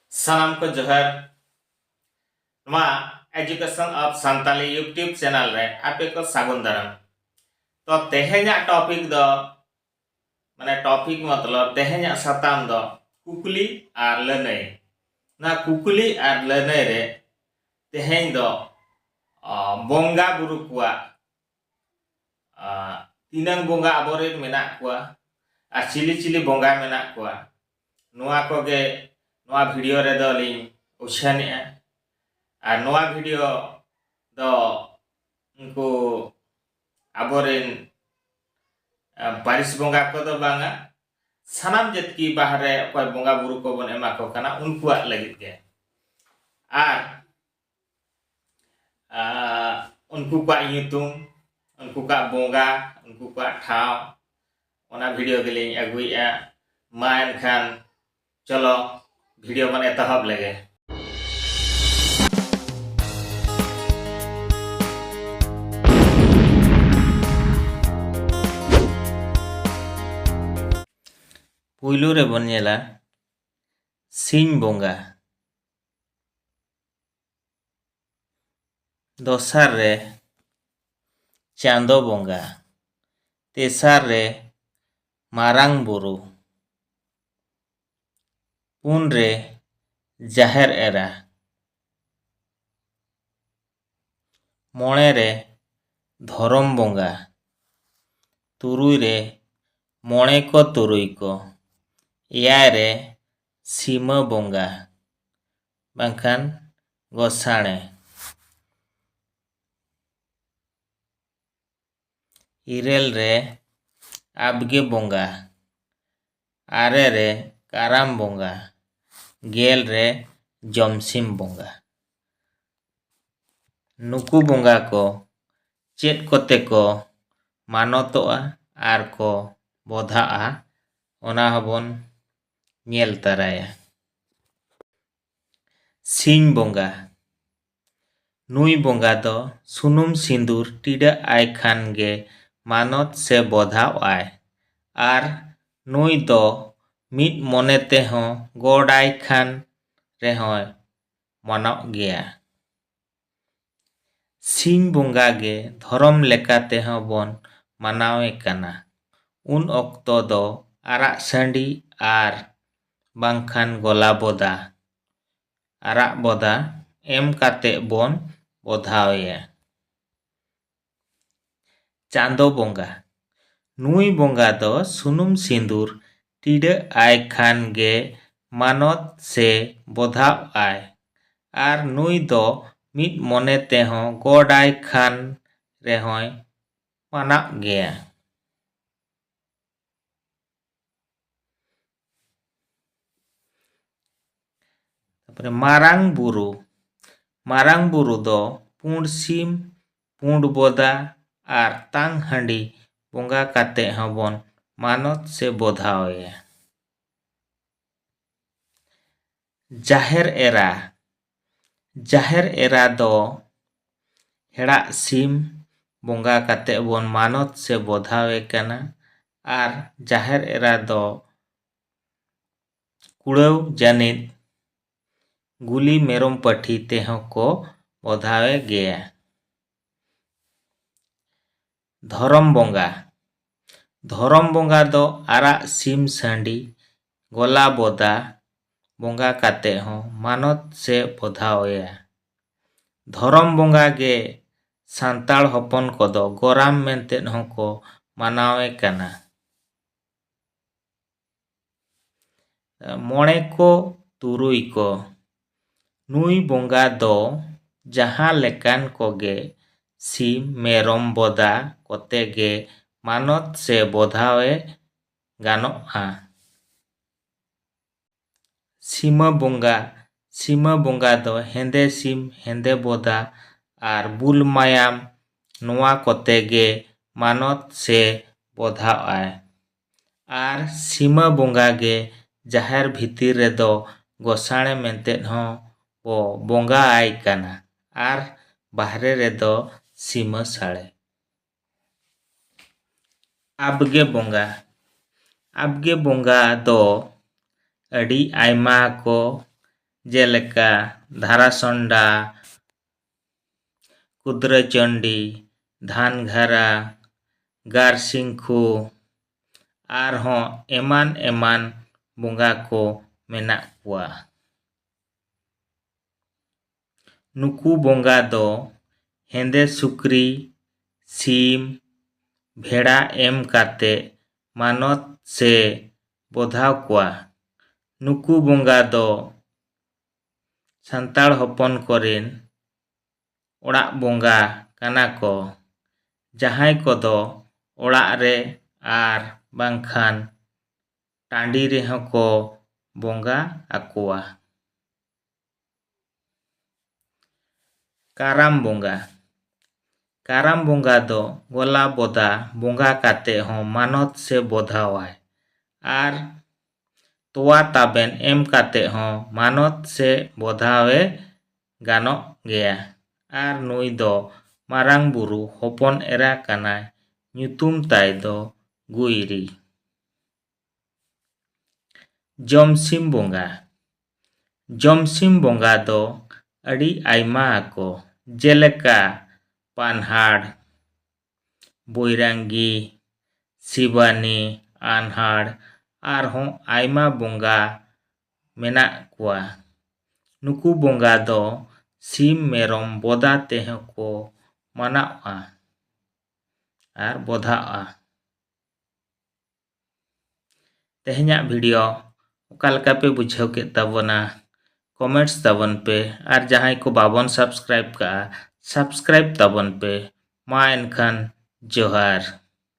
ᱥᱟᱱᱟᱢ ᱠᱚ ᱡᱚᱦᱟᱨ ᱱᱚᱣᱟ education of Santali YouTube channel ᱨᱮ ᱟᱯᱮ ᱠᱚ ᱥᱟᱹᱜᱩᱱ ᱫᱟᱨᱟᱢ ᱛᱚ ᱛᱮᱦᱮᱧᱟᱜ ᱴᱚᱯᱤᱠ ᱫᱚ ᱢᱟᱱᱮ ᱴᱚᱯᱤᱠ ᱢᱚᱛᱞᱚᱵ ᱛᱮᱦᱮᱧᱟᱜ ᱥᱟᱛᱟᱢ ᱫᱚ ᱠᱩᱠᱞᱤ ᱟᱨ ᱞᱟᱹᱱᱟᱹᱭ ᱱᱚᱣᱟ ᱠᱩᱠᱞᱤ ᱟᱨ ᱞᱟᱹᱱᱟᱹᱭ ᱨᱮ ᱛᱮᱦᱮᱧ ᱫᱚ ᱵᱚᱸᱜᱟ ᱵᱩᱨᱩ ᱠᱚᱣᱟᱜ ᱛᱤᱱᱟᱹᱝ ᱵᱚᱸᱜᱟ ᱟᱵᱚᱨᱮᱱ ᱢᱮᱱᱟᱜ ᱠᱚᱣᱟ ᱟᱨ ᱪᱤᱞᱤ ᱪᱤᱞᱤ ᱵᱚᱸᱜᱟ ᱢᱮᱱᱟᱜ ᱠᱚᱣᱟ ᱱᱚᱣᱟ ᱠᱚᱜᱮ ᱱᱚᱣᱟ ᱵᱷᱤᱰᱤᱭᱳ ᱨᱮᱫᱚ ᱞᱤᱧ ᱩᱪᱷᱟᱹᱱᱮᱜᱼᱟ ᱟᱨ ᱱᱚᱣᱟ ᱵᱷᱤᱰᱤᱭᱳ ᱫᱚ ᱩᱱᱠᱩ ᱟᱵᱚᱨᱮᱱ ᱯᱟᱹᱨᱤᱥ ᱵᱚᱸᱜᱟ ᱠᱚᱫᱚ ᱵᱟᱝᱟ ᱥᱟᱱᱟᱢ ᱡᱟᱹᱛᱤ ᱵᱟᱦᱨᱮ ᱚᱠᱚᱭ ᱵᱚᱸᱜᱟ ᱵᱩᱨᱩ ᱠᱚᱵᱚᱱ ᱮᱢᱟ ᱠᱚ ᱠᱟᱱᱟ ᱩᱱᱠᱩᱣᱟᱜ ᱞᱟᱹᱜᱤᱫ ᱜᱮ ᱟᱨ ᱩᱱᱠᱩ ᱠᱚᱣᱟᱜ ᱧᱩᱛᱩᱢ ᱩᱱᱠᱩ ᱠᱚᱣᱟᱜ ᱵᱚᱸᱜᱟ ᱩᱱᱠᱩ ᱠᱚᱣᱟᱜ ᱴᱷᱟᱶ ᱚᱱᱟ ᱵᱷᱤᱰᱤᱭᱳ ᱜᱮᱞᱤᱧ ᱟᱹᱜᱩᱭᱮᱫᱼᱟ ᱢᱟ ᱮᱱᱠᱷᱟᱱ ᱪᱚᱞᱚ ᱵᱷᱤᱰᱤᱭᱳ ᱵᱚᱱ ᱮᱛᱚᱦᱚᱵ ᱞᱮᱜᱮ ᱯᱩᱭᱞᱩ ᱨᱮᱵᱚᱱ ᱧᱮᱞᱟ ᱥᱤᱧ ᱵᱚᱸᱜᱟ ᱫᱚᱥᱟᱨ ᱨᱮ ᱪᱟᱸᱫᱚ ᱵᱚᱸᱜᱟ ᱛᱮᱥᱟᱨ ᱨᱮ ᱢᱟᱨᱟᱝ ᱵᱳᱨᱳ ᱯᱩᱱ ᱨᱮ ᱡᱟᱦᱮᱨ ᱮᱨᱟ ᱢᱚᱬᱮ ᱨᱮ ᱫᱷᱚᱨᱚᱢ ᱵᱚᱸᱜᱟ ᱛᱩᱨᱩᱭ ᱨᱮ ᱢᱚᱬᱮ ᱠᱚ ᱛᱩᱨᱩᱭ ᱠᱚ ᱮᱭᱟᱭ ᱨᱮ ᱥᱤᱢᱟᱹ ᱵᱚᱸᱜᱟ ᱵᱟᱝᱠᱷᱟᱱ ᱜᱚᱥᱟᱬᱮ ᱤᱨᱟᱹᱞ ᱨᱮ ᱟᱵᱽᱜᱮ ᱵᱚᱸᱜᱟ ᱟᱨᱮ ᱨᱮ ᱠᱟᱨᱟᱢ ᱵᱚᱸᱜᱟ ᱜᱮᱞ ᱨᱮ ᱡᱚᱢᱥᱤᱢ ᱵᱚᱸᱜᱟ ᱱᱩᱠᱩ ᱵᱚᱸᱜᱟ ᱠᱚ ᱪᱮᱫ ᱠᱚᱛᱮ ᱠᱚ ᱢᱟᱱᱚᱛᱚᱜᱼᱟ ᱟᱨ ᱠᱚ ᱵᱚᱫᱷᱟᱜᱼᱟ ᱚᱱᱟ ᱦᱚᱸᱵᱚᱱ ᱧᱮᱞ ᱛᱟᱨᱟᱭᱟ ᱥᱤᱧ ᱵᱚᱸᱜᱟ ᱱᱩᱭ ᱵᱚᱸᱜᱟ ᱫᱚ ᱥᱩᱱᱩᱢ ᱥᱤᱸᱫᱩᱨ ᱴᱤᱰᱟᱹᱜ ᱟᱭ ᱠᱷᱟᱱ ᱜᱮ ᱢᱟᱱᱚᱛ ᱥᱮ ᱵᱚᱫᱷᱟᱣ ᱟᱭ ᱟᱨ ᱱᱩᱭ ᱫᱚ ᱢᱤᱫ ᱢᱚᱱᱮ ᱛᱮᱦᱚᱸ ᱜᱚᱰ ᱟᱭ ᱠᱷᱟᱱ ᱨᱮᱦᱚᱸᱭ ᱢᱟᱱᱚᱜ ᱜᱮᱭᱟ ᱥᱤᱧ ᱵᱚᱸᱜᱟ ᱜᱮ ᱫᱷᱚᱨᱚᱢ ᱞᱮᱠᱟ ᱛᱮᱦᱚᱸ ᱵᱚᱱ ᱢᱟᱱᱟᱣᱮ ᱠᱟᱱᱟ᱾ ᱩᱱ ᱚᱠᱛᱚ ᱫᱚ ᱟᱨᱟᱜ ᱥᱟᱺᱰᱤ ᱟᱨ ᱵᱟᱝᱠᱷᱟᱱ ᱜᱚᱞᱟ ᱵᱚᱫᱟ, ᱟᱨᱟᱜ ᱵᱚᱫᱟ, ᱮᱢ ᱠᱟᱛᱮ ᱵᱚᱱ ᱵᱚᱫᱷᱟᱣᱮᱭᱟ᱾ ᱪᱟᱸᱫᱚ ᱵᱚᱸᱜᱟ ᱱᱩᱭ ᱵᱚᱸᱜᱟ ᱫᱚ ᱥᱩᱱᱩᱢ ᱥᱤᱸᱫᱩᱨ ᱴᱤᱰᱟᱹᱜ ᱟᱭ ᱠᱷᱟᱱ ᱜᱮ ᱢᱟᱱᱚᱛ ᱥᱮ ᱵᱚᱫᱷᱟᱜ ᱟᱭ ᱟᱨ ᱱᱩᱭ ᱫᱚ ᱢᱤᱫ ᱢᱚᱱᱮ ᱛᱮᱦᱚᱸ ᱜᱚᱰ ᱟᱭ ᱠᱷᱟᱱ ᱨᱮᱦᱚᱸᱭ ᱢᱟᱱᱟᱜ ᱜᱮᱭᱟ ᱛᱟᱯᱚᱨᱮ ᱢᱟᱨᱟᱝ ᱵᱩᱨᱩ ᱢᱟᱨᱟᱝ ᱵᱩᱨᱩ ᱫᱚ ᱯᱩᱸᱰ ᱥᱤᱢ ᱯᱩᱸᱰ ᱵᱚᱫᱟ ᱟᱨ ᱛᱟᱝ ᱦᱟᱺᱰᱤ ᱵᱚᱸᱜᱟ ᱠᱟᱛᱮ ᱦᱚᱸᱵᱚᱱ ᱢᱟᱱᱚᱛ ᱥᱮ ᱵᱚᱫᱷᱟᱣᱮᱭᱟ ᱡᱟᱦᱮᱨ ᱮᱨᱟ ᱡᱟᱦᱮᱨ ᱮᱨᱟ ᱫᱚ ᱦᱮᱲᱟᱜ ᱥᱤᱢ ᱵᱚᱸᱜᱟ ᱠᱟᱛᱮᱫ ᱵᱚᱱ ᱢᱟᱱᱚᱛ ᱥᱮ ᱵᱚᱫᱷᱟᱣᱮ ᱠᱟᱱᱟ ᱟᱨ ᱡᱟᱦᱮᱨ ᱮᱨᱟ ᱫᱚ ᱠᱩᱲᱟᱹᱣ ᱡᱟᱹᱱᱤᱡ ᱜᱩᱞᱤ ᱢᱮᱨᱚᱢ ᱯᱟᱹᱴᱷᱤ ᱛᱮᱦᱚᱸ ᱠᱚ ᱵᱚᱫᱷᱟᱣᱮ ᱜᱮᱭᱟ ᱫᱷᱚᱨᱚᱢ ᱵᱚᱸᱜᱟ ᱫᱷᱚᱨᱚᱢ ᱵᱚᱸᱜᱟ ᱫᱚ ᱟᱨᱟᱜ ᱥᱤᱢ ᱥᱟᱺᱰᱤ ᱜᱚᱞᱟ ᱵᱚᱫᱟ ᱵᱚᱸᱜᱟ ᱠᱟᱛᱮ ᱦᱚᱸ ᱢᱟᱱᱚᱛ ᱥᱮ ᱵᱚᱫᱷᱟᱣ ᱮᱭᱟ ᱫᱷᱚᱨᱚᱢ ᱵᱚᱸᱜᱟ ᱜᱮ ᱥᱟᱱᱛᱟᱲ ᱦᱚᱯᱚᱱ ᱠᱚᱫᱚ ᱜᱚᱨᱟᱢ ᱢᱮᱱᱛᱮ ᱦᱚᱸᱠᱚ ᱢᱟᱱᱟᱣᱮ ᱠᱟᱱᱟ ᱢᱚᱬᱮ ᱠᱚ ᱛᱩᱨᱩᱭ ᱠᱚ ᱱᱩᱭ ᱵᱚᱸᱜᱟ ᱫᱚ ᱡᱟᱦᱟᱸ ᱞᱮᱠᱟᱱ ᱠᱚᱜᱮ ᱥᱤᱢ ᱢᱮᱨᱚᱢ ᱵᱚᱫᱟ ᱠᱚᱛᱮ ᱜᱮ ᱢᱟᱱᱚᱛ ᱥᱮ ᱵᱚᱫᱷᱟᱣᱮ ᱜᱟᱱᱚᱜᱼᱟ ᱥᱤᱢᱟᱹ ᱵᱚᱸᱜᱟ ᱥᱤᱢᱟᱹ ᱵᱚᱸᱜᱟ ᱫᱚ ᱦᱮᱸᱫᱮ ᱥᱤᱢ ᱦᱮᱸᱫᱮ ᱵᱚᱫᱟ ᱟᱨ ᱵᱩᱞ ᱢᱟᱭᱟᱢ ᱱᱚᱣᱟ ᱠᱚᱛᱮ ᱜᱮ ᱢᱟᱱᱚᱛ ᱥᱮ ᱵᱚᱫᱷᱟᱜᱼᱟᱭ ᱟᱨ ᱥᱤᱢᱟᱹ ᱵᱚᱸᱜᱟ ᱜᱮ ᱡᱟᱦᱮᱨ ᱵᱷᱤᱛᱤᱨ ᱨᱮᱫᱚ ᱜᱚᱥᱟᱬᱮ ᱢᱮᱱᱛᱮ ᱦᱚᱸ ᱵᱚ ᱵᱚᱸᱜᱟ ᱟᱭ ᱠᱟᱱᱟ ᱟᱨ ᱵᱟᱦᱨᱮ ᱨᱮᱫᱚ ᱥᱤᱢᱟᱹ ᱥᱟᱬᱮ᱾ ᱟᱵᱜᱮ ᱵᱚᱸᱜᱟ ᱟᱵᱜᱮ ᱵᱚᱸᱜᱟ ᱫᱚ ᱟᱹᱰᱤ ᱟᱭᱢᱟ ᱠᱚ ᱡᱮᱞᱮᱠᱟ ᱫᱷᱟᱨᱟᱥᱚᱱᱰᱟ, ᱠᱩᱫᱽᱨᱟᱹ ᱪᱚᱱᱰᱤ ᱫᱷᱟᱱᱜᱷᱟᱨᱟ ᱜᱟᱨᱥᱤᱝᱠᱷᱩ ᱟᱨᱦᱚᱸ ᱮᱢᱟᱱ ᱮᱢᱟᱱ ᱵᱚᱸᱜᱟ ᱠᱚ ᱢᱮᱱᱟᱜ ᱠᱚᱣᱟ ᱱᱩᱠᱩ ᱵᱚᱸᱜᱟ ᱫᱚ ᱦᱮᱸᱫᱮ ᱥᱩᱠᱨᱤ ᱥᱤᱢ ᱵᱷᱮᱲᱟ ᱮᱢ ᱠᱟᱛᱮᱫ ᱢᱟᱱᱚᱛ ᱥᱮ ᱵᱚᱫᱷᱟᱣ ᱠᱚᱣᱟ ᱱᱩᱠᱩ ᱵᱚᱸᱜᱟ ᱫᱚ ᱥᱟᱱᱛᱟᱲ ᱦᱚᱯᱚᱱ ᱠᱚᱨᱮᱱ ᱚᱲᱟᱜ ᱵᱚᱸᱜᱟ ᱠᱟᱱᱟ ᱠᱚ ᱡᱟᱦᱟᱸᱭ ᱠᱚᱫᱚ ᱚᱲᱟᱜ ᱨᱮ ᱟᱨ ᱵᱟᱝᱠᱷᱟᱱ ᱴᱟᱺᱰᱤ ᱨᱮᱦᱚᱸ ᱠᱚ ᱵᱚᱸᱜᱟ ᱟᱠᱚᱣᱟ᱾ ᱠᱟᱨᱟᱢ ᱵᱚᱸᱜᱟ ᱠᱟᱨᱟᱢ ᱵᱚᱸᱜᱟ ᱫᱚ ᱜᱚᱞᱟ ᱵᱚᱫᱟ ᱵᱚᱸᱜᱟ ᱠᱟᱛᱮ ᱦᱚᱸ ᱢᱟᱱᱚᱛ ᱥᱮ ᱵᱚᱫᱷᱟᱣᱟᱭ ᱟᱨ ᱛᱚᱣᱟ ᱛᱟᱵᱮᱱ ᱮᱢ ᱠᱟᱛᱮ ᱦᱚᱸ ᱢᱟᱱᱚᱛ ᱥᱮ ᱵᱚᱫᱷᱟᱣᱮ ᱜᱟᱱᱚᱜ ᱜᱮᱭᱟ ᱟᱨ ᱱᱩᱭ ᱫᱚ ᱢᱟᱨᱟᱝ ᱵᱩᱨᱩ ᱦᱚᱯᱚᱱ ᱮᱨᱟ ᱠᱟᱱᱟᱭ ᱧᱩᱛᱩᱢ ᱛᱟᱭ ᱫᱚ ᱜᱩᱭᱨᱤ᱾ ᱡᱚᱢᱥᱤᱢ ᱵᱚᱸᱜᱟ ᱡᱚᱢᱥᱤᱢ ᱵᱚᱸᱜᱟ ᱫᱚ ᱟᱹᱰᱤ ᱟᱭᱢᱟ ᱟᱠᱚ ᱡᱮᱞᱮᱠᱟ ᱯᱟᱱᱦᱟᱲ, ᱵᱳᱭᱨᱟᱝᱜᱤ ᱥᱤᱵᱟᱱᱤ ᱟᱱᱦᱟᱲ ᱟᱨᱦᱚᱸ ᱟᱭᱢᱟ ᱵᱚᱸᱜᱟ ᱢᱮᱱᱟᱜ ᱠᱚᱣᱟ ᱱᱩᱠᱩ ᱵᱚᱸᱜᱟ ᱫᱚ ᱥᱤᱢ ᱢᱮᱨᱚᱢ ᱵᱚᱫᱟ ᱛᱮᱦᱚᱸ ᱠᱚ ᱢᱟᱱᱟᱜᱼᱟ ᱟᱨ ᱵᱚᱫᱷᱟᱜᱼᱟ ᱛᱮᱦᱮᱧᱟᱜ ᱵᱷᱤᱰᱤᱭᱳ ᱚᱠᱟ ᱞᱮᱠᱟ ᱯᱮ ᱵᱩᱡᱷᱟᱹᱣ ᱠᱮᱫ ᱛᱟᱵᱚᱱᱟ ᱠᱚᱢᱮᱱᱴᱥ ᱛᱟᱵᱚᱱ ᱯᱮ ᱟᱨ ᱡᱟᱦᱟᱸᱭ ᱠᱚ ᱵᱟᱵᱚᱱ ᱥᱟᱵᱥᱠᱨᱟᱭᱤᱵ ᱠᱟᱜᱼᱟ ᱥᱟᱵᱥᱠᱨᱟᱭᱤᱵ ᱛᱟᱵᱚᱱ ᱯᱮ ᱢᱟ ᱮᱱᱠᱷᱟᱱ ᱡᱚᱦᱟᱨ